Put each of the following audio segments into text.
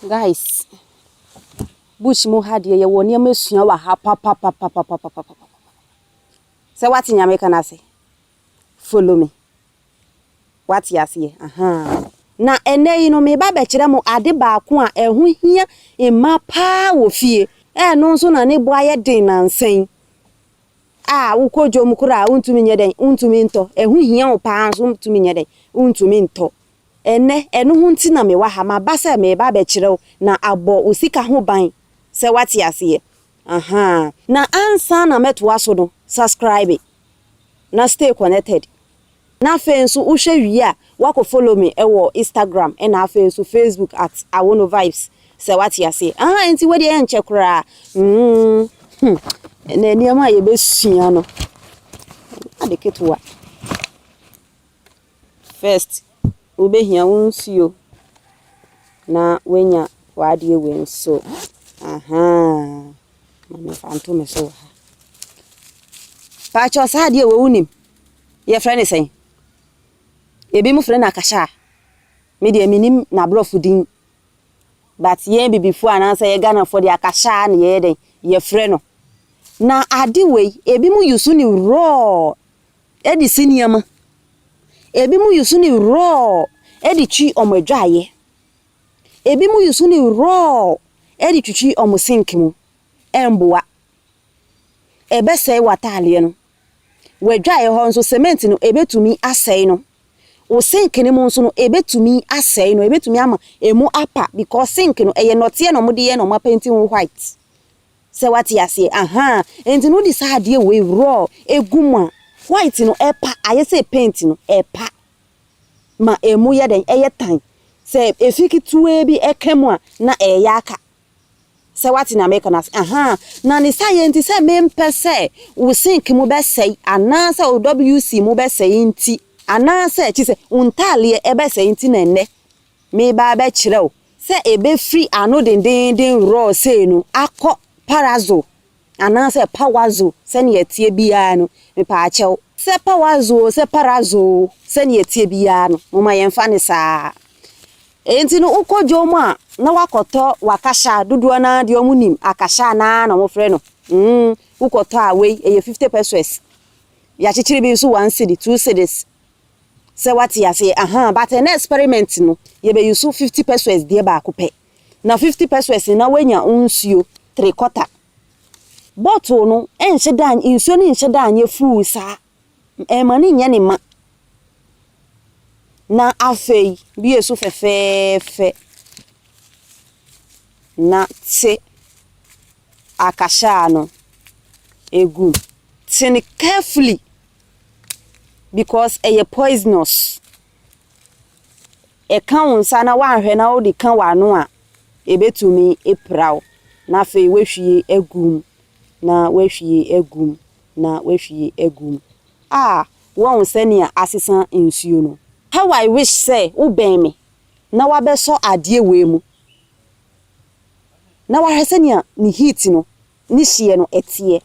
Guys, bush mu ha deɛ yɛwɔ nneɛma sua wɔ ha papapapapapapapa. Sɛ wate nyame ka no ase, follow me. Wate aseɛ? Ahaa. Na ɛnnɛ yi no, mereba abɛkyerɛ mo ade baako a ɛho hia mma pa ara wɔ fie, a ɛno nso na ne bo ayɛ den nnansa yi, a wokɔ dwom koraa a, wontumi nyɛ dɛn? Wontumi ntɔ. Ɛho hia wo pa ara nso wontumi nyɛ dɛn? Wontumi ntɔ. Ɛnnɛ, ɛno ho nti na mewɔ ha. Maba sɛ mereba abɛkyerɛ wo na abɔ wo sika ho ban, sɛ woate aseɛ. Ahaa. Na ansa na mɛtoa so no, subscribe. na stay connected na afei nso wohwɛ wie a woakɔ follow me wɔ Instagram na afei nso Facebook at Awono Vibes sɛ wate aseɛ aha nti wodeɛ ɛnkyɛ koraa mm na nneɛma a yɛbɛsua no ade ketewa First wobɛhia wo nsuo na wanya w'adeɛ wei nso ahaa ma me fa nto me so wɔ ha paakyɛ saa adeɛ wɔ wonim yɛfrɛ ne sɛn ebi mo frɛ no akasha a me deɛ menim n'aborɔfo din but yɛn bibifoɔ anaasɛ yɛ Ghanafoɔ deɛ akasha na yɛyɛ dɛn yɛfrɛ no na ade wei ebi mo yusu ne raw de si nneɛma. Ebinom yi so ne wrɔɔ de twi wɔn adwaeɛ. Ebinom yi so ne wrɔɔ de twitwi wɔn sink mu. Ɛmmoa. Ɛbɛsɛe w'ataadeɛ no. W'adwaeɛ hɔ nso, cement no, ɛbɛtumi asɛe no. Wo sink no mu nso no, ɛbɛtumi asɛe no. Ɛbɛtumi ama ɛmu apa because sink no, ɛyɛ nnɔteɛ na wɔde yɛ na wɔapenti ho white. Sɛ wate aseɛ ahaa ɛnti no wode saa adeɛ wei raw egu mu a white no ɛpa ayɛ sɛ paint no ɛpa ma ɛmu yɛ dɛn ɛyɛ tan sɛ ɛfi ketewaa bi ɛka mu a na ɛɛyɛ aka sɛ wate nea meeka no ase ahaa na ne saeɛ nti sɛ mempɛ sɛ wo sink mu bɛsɛe anaa sɛ wo WC mu bɛsɛe nti anaa sɛ kyesɛ wo ntaaleɛ ɛbɛsɛe nti na ɛnnɛ Mereba abɛkyerɛ wo sɛ ebefiri ano dendeenden rɔɔ sei no akɔ parazo anaasɛ pawazo sɛnea ɛteɛ biara no, mepaakyɛw, sɛ pawazo oo, sɛ parazo oo, sɛnea ɛteɛ biara no, momma yɛmfa no saa ara. Enti no, wokɔ dwom a na woakɔtɔ w'akasha, dodoɔ no ara deɛ wɔnim akasha no ara na wɔfrɛ no, mm, wokɔtɔ a wei, ɛyɛ fifty pesewas, yɛakyekyere bi nso one cedi, two cedis, sɛ wate aseɛ ahaa but ɛnɛ experiment no yɛbɛ use fifty pesewas deɛ baako pɛ na fifty pesewas no na wanya wo nsuo three quarter bottle no ɛnhyɛ da nsuo no nhyɛ da nyɛ full saa ɛma no nyɛ ne ma na afei bie so fɛfɛɛfɛ na te akahyɛ a no ɛgu te no carefully because ɛyɛ poisonous. Ɛka wo nsa na woanhwɛ na wode ka w'ano a, ɛbɛtumi apira wo, na afei woahwie agu mu, na woahwie agu mu, na woahwie agu mu. Ah, woahu sɛnea asesa nsuo no? How I wish sɛ wobɛn me na woabɛsɔ adeɛ wei mu na woahwɛ sɛnea ne heat no, ne hyeɛ no, ɛteɛ.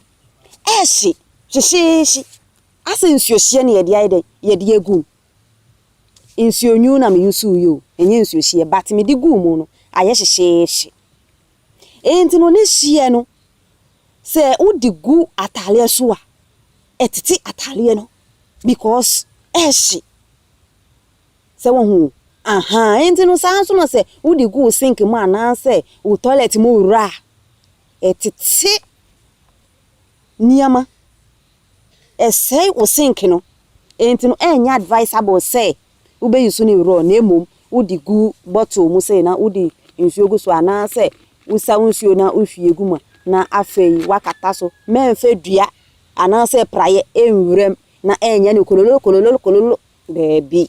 ɛhye hyehyeehye asɛ nsuo hyeɛ na yɛde ayɛ dɛn yɛde agu mu nsuo nwunu na me use yɛ o ɛnyɛ nsuo hyeɛ but mede guu mu no ayɛ hyehyeehye enti no ne hyeɛ no sɛ wode gu ataareɛ so a ɛtete ataareɛ no because ɛhye sɛ wɔn ho aha enti no saa nso na sɛ wode gu sink mu anaasɛ wo toilet mu wura a Ɛtete nneɛma. Ɛsɛe wo sink no. Enti no, ɛnyɛ advisable sɛ wobɛ use no raw na mmom wode gu bottle mu sei na wode nsuo gu so anaasɛ wosa wo nsuo na wohwie gu mu na afei woakata so. Mɛmfa dua anaasɛ praeɛ nwura mu na ɛnyɛ no kololo kololo kololo, daabi.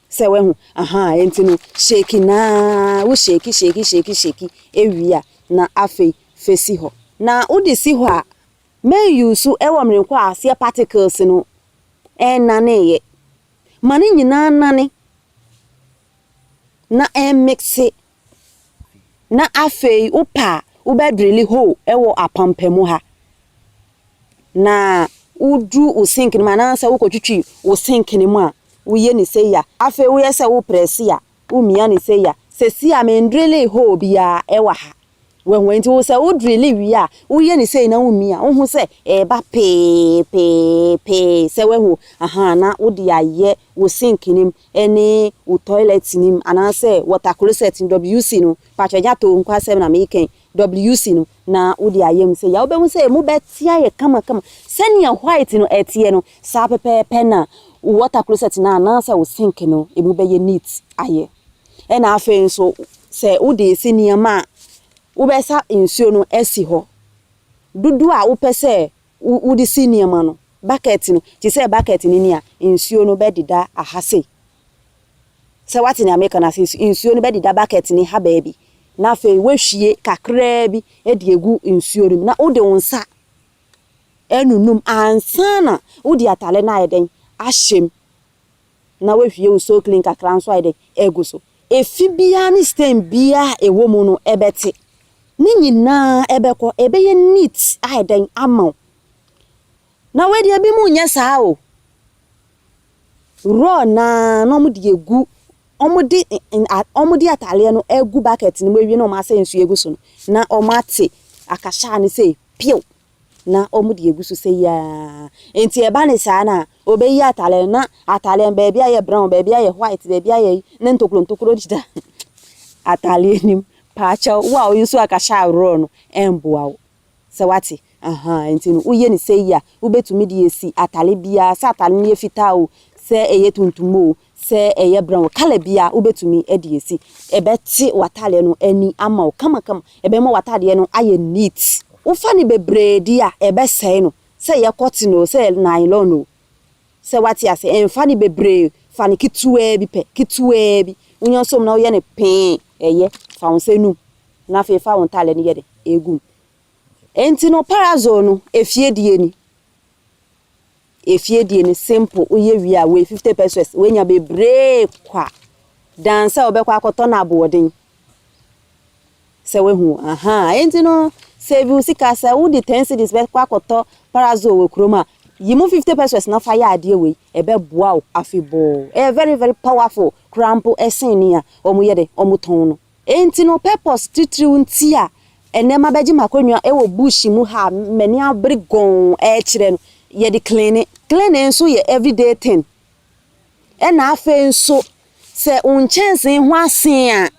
Sɛ wahu? Ahaa, enti no shake no ara, wo shake, shake, shake, shake wie a, na afei fa si hɔ. Na wode si hɔ a, ma nyu so wɔ mmerɛ kɔ a aseɛ particles no nnaneeɛ. Ma ne nyinaa nnane na ɛmmixe. Na afei wopɛ a wobɛdrili hole wɔ apampamu ha na wodu wo sink no mu anaasɛ wokɔtwitwi wo sink no mu a, woyɛ no sei a, afei woyɛ sɛ woreprɛse a, womia no sei a. Seesei a mendrilee hole biara wɔ ha. Wahu? Enti wo sɛ wodrili wie a, woyɛ no sei na womia a, wohu sɛ ɛreba pee pee pee sɛ, wahu? Ahaa, na wode ayɛ wo sink no mu. ne wo toilet no mu anaasɛ water closet no, WC no, mpakyɛ gya to nko asɛm na meekɛn, WC no, na wode ayɛ mu sɛ yɛ a, wobɛhu sɛ ɛmu bɛte ayɛ kama kama. Sɛnea white no ɛteɛ no, saa pɛpɛɛpɛ na wo water closet no anaasɛ wo sink no ɛmu bɛyɛ neat ayɛ. Ɛna afei nso sɛ wode resi nneɛma a wobɛsa nsuo no asi hɔ dodoɔ a wopɛ sɛ Wo, wode si nneɛma no, bucket no, te sɛ bucket no ni a, nsuo no bɛdeda aha sei. Sɛ woate nea mereka no ase? Nsu, nsuo no bɛdeda bucket no ha baabi, na afei woahwie kakraa bi de agu nsuo no mu, na wode wo nsa anunum ansa na wode atare no ayɛ dɛn? Ahyɛ mu. na wahwie wo sooklin kakra nso ayɛ dɛn? Agu so. Efi biara ne stain biara a ɛwɔ mu no ɛbɛte. Ne nyinaa ɛbɛkɔ. Ɛbɛyɛ neat ayɛ dɛn? Ama wo. Na wei deɛ ebinom nyɛ saa o. Raw no ara na wɔde agu, wɔde wɔde ataadeɛ no agu bucket no mu awie na wɔasɛ nsuo agu so no, na wɔate akahyɛ ano sei, piw! na wɔde agu so sɛ yi ara. Enti ɛba no saa no a, wɔbɛyi atadeɛ no, na atadeɛ no baabi ayɛ brown, baabi ayɛ white, baabi ayɛ yi, na ntokuro ntokuro deda atadeɛ no mu. Paakyɛ wo a woyɛ nso anka hyɛ aworɔ no mmoa wo. Sɛ woate? Ahaa, enti no woyɛ no sɛ yi a, wobɛtumi de asi atadeɛ biara, sɛ atadeɛ no yɛ fitaa o, sɛ ɛyɛ tuntum o, Sɛ ɛyɛ brown colour bi a wobɛtumi de asi. Ɛbɛte w'ataadeɛ no ani ama wo kamakama. Ɛbɛma w'ataadeɛ no ayɛ neat. Wofa no bebree deɛ a, ɛbɛsɛe no. Sɛ ɛyɛ cotton o, sɛ ɛyɛ nylon o. Sɛ woate aseɛ, mfa no bebree. Fa no ketewaa bi pɛ, ketewaa bi. Wonya nso mu na woyɛ no pee, ɛyɛ. Fa wo nsa nu mu na afei fa wo ntaadeɛ no yɛ dɛ, ɛgu mu. Enti no, parasol no, efie deɛ ni. Efie deɛ no simple woyɛ wie a wei fifty pesos woanya bebree kwa dan sɛ wobɛkɔ akɔtɔ no aboɔden sɛ wahu ahaa enti no save wo sika sɛ wode ten cities bɛkɔ akɔtɔ parazoo wɔ kurom a yi mu fifty pesos na fa yɛ adeɛ wei ɛbɛboa wo afebɔɔ ɛyɛ very very powerful koraa mpo ɛsen nea wɔyɛ de wɔtɔn no. Enti no purpose titiriw nti a ɛnnɛ mabɛgye m'akonnwa wɔ bush mu ha a m'ani abere gɔnn rekyerɛ no, yɛde cleane. Cleaning nso yɛ everyday thing. Ɛnna afei nso, sɛ wo nkyɛnsee ho asen a,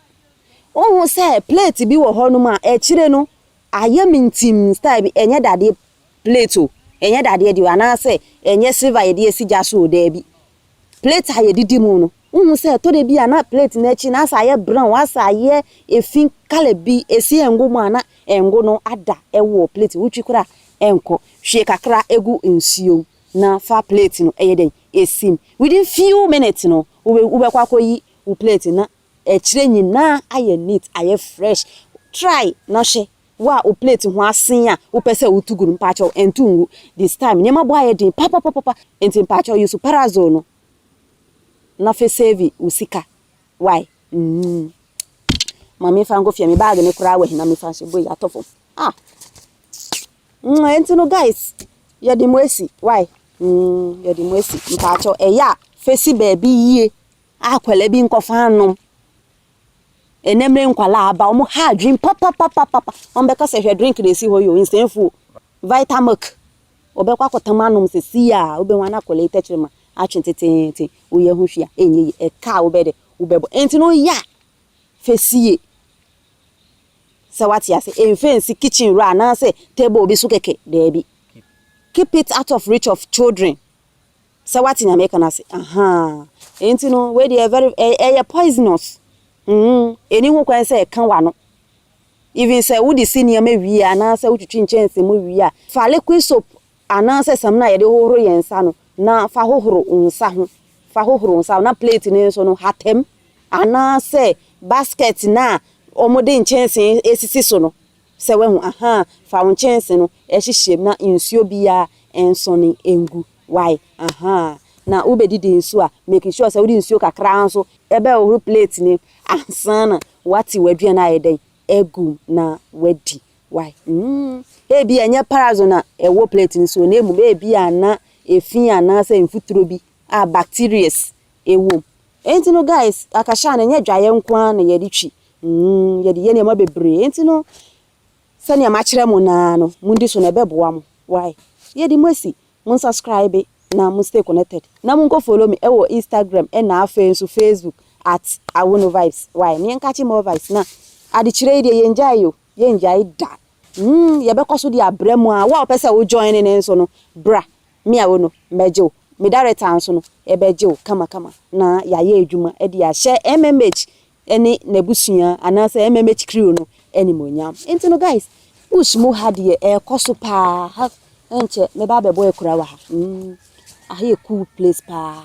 wohu sɛ plate bi wɔ hɔnom a, akyire no, ayɛ mintimm style bi, ɛnyɛ dadeɛ plate o, ɛnyɛ dadeɛ deɛ o, anaasɛ ɛnyɛ silver a yɛde asi gya so o, daabi, plate a yɛdidi mu no, wohu sɛ ɛtɔ da bi a na plate no akyi no asɛ ayɛ brown, asɛ ayɛ efi colour bi, esi ɛngo mu a na ɛngo no ada wɔ plate, wotwi koraa a ɛnkɔ. Hwie kakra gu nsuo mu na fa plate no yɛ dɛn? Si mu. Within few minutes no, wobɛkɔ akɔyi wo plate no na Akyire nyinaa ayɛ neat ayɛ fresh try na hwɛ wo a wo plate ho asen a wopɛ sɛ wotu gu no mpaakyɛw ɛntu ngu this time nneɛma bɔ ayɛ den papapapapa nti mpaakyɛw use parasol no na fɛ save wo sika why mm ma me fa nkɔ fie me bag no koraa wɔ he na me fa nhyɛ boy atɔ fam ah mm ɛnti no guys yɛde mo asi why mm yɛde mo asi mpaakyɛw ɛyɛ a fɛ si baabi yie. Akwadaa bi nkɔfa anom. Ɛnɛ mmerɛ nkwadaa aba, wɔn ha adwene papapapapa. Wɔn bɛka sɛ hwɛ drink na esi hɔ yi o, nsɛnfuo, vitamilk. Wɔbɛkɔ akɔtam anom sɛ si a, wobɛhu ana akwadaa yi tɛkyerɛma atwe teteete. Woyɛ ho hwee a, ɛnyɛ yie. Ɛka a wobɛyɛ dɛ, wobɛbɔ. Ɛnti no woyɛ a, fɛ sie. Sɛ wate ase, ɛmfa nsi kitchen wura anaasɛ table bi so kɛkɛ, daabi. Keep it out of reach of children. Sɛ wate nea meka no ase ahaa. Enti no wei deɛ very ɛ ɛyɛ poisonous mm ɛni ho kwan sɛ ɛka w'ano even sɛ wode si nneɛma wie anaasɛ wotwitwi nkyɛnse mu wie a fa liquid soap anaasɛ samina a yɛde hohoro yɛn nsa no na fa hohoro wo nsa ho fa hohoro wo nsa ho na plate no nso no hata mu anaasɛ basket no a wɔde nkyɛnse sisi so no. Sɛ wahu a, ahaa, fa wo nkyɛnse no hyehyem na nsuo biaa nsɔne ngu, wai, ahaa. Na wo bɛdidi nso a, make sure sɛ wode nsuo kakraa nso bɛhohoro plate no ansa na wate w'aduane ayɛ dɛn, agu mu na wadi, wai, mm. Ebia ɛnyɛ parazon na ɛwɔ plate no soɔ na mmom ebia na efi anaasɛ mfuturo bi a bacterias wɔ mu. Enti no guys, akasha no ɛnyɛ dwaeɛ nko ara na yɛde twi, Mm, yɛde yɛ nneɛma bebree. Enti no, sɛnea makyerɛ mo no ara no, mundi so na ɛbɛboa mo. Why? Yɛde mo asi. Monsubscribe na mo stay connected. Na monkɔ follow me wɔ Instagram na afei nso Facebook at Awunovibes. Why? Na yɛnkakye more vibes. Na adekyerɛ yi deɛ yɛngyae o, yɛngyae da. Mm, yɛbɛkɔ so de abrɛ mo a. Wo a wopɛ sɛ wo join no nso no, bra. Me a wo no, mɛgye wo. Me director nso no, yɛbɛgye wo kamakama na yɛayɛ adwuma de ahyɛ MMH ne n'abusua anaasɛ ɛmma mɛkyi kriw no animuonyam nti no guys bush mu ha deɛ ɛrekɔ so paa ha ɛnkyɛ mɛba abɛbɔ akura wɔ ha mm aha yɛ cool place paa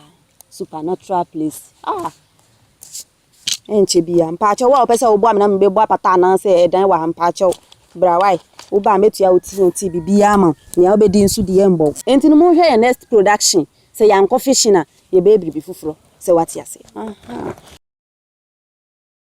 supernatural place ah ɛnkyɛ bia mpaakyɛw a wɔpɛ sɛ wɔboa me na mebɛbɔ apata anaasɛ ɛdan wɔ ha mpaakyɛw brawae woba a mɛtua wo tnt biribiaa ma nea wobɛdi nso deɛ mbɔ nti no monhwɛ yɛ next production Sɛ yɛankɔ fishing a, yɛbɛyɛ biribi foforɔ sɛ woate aseɛ.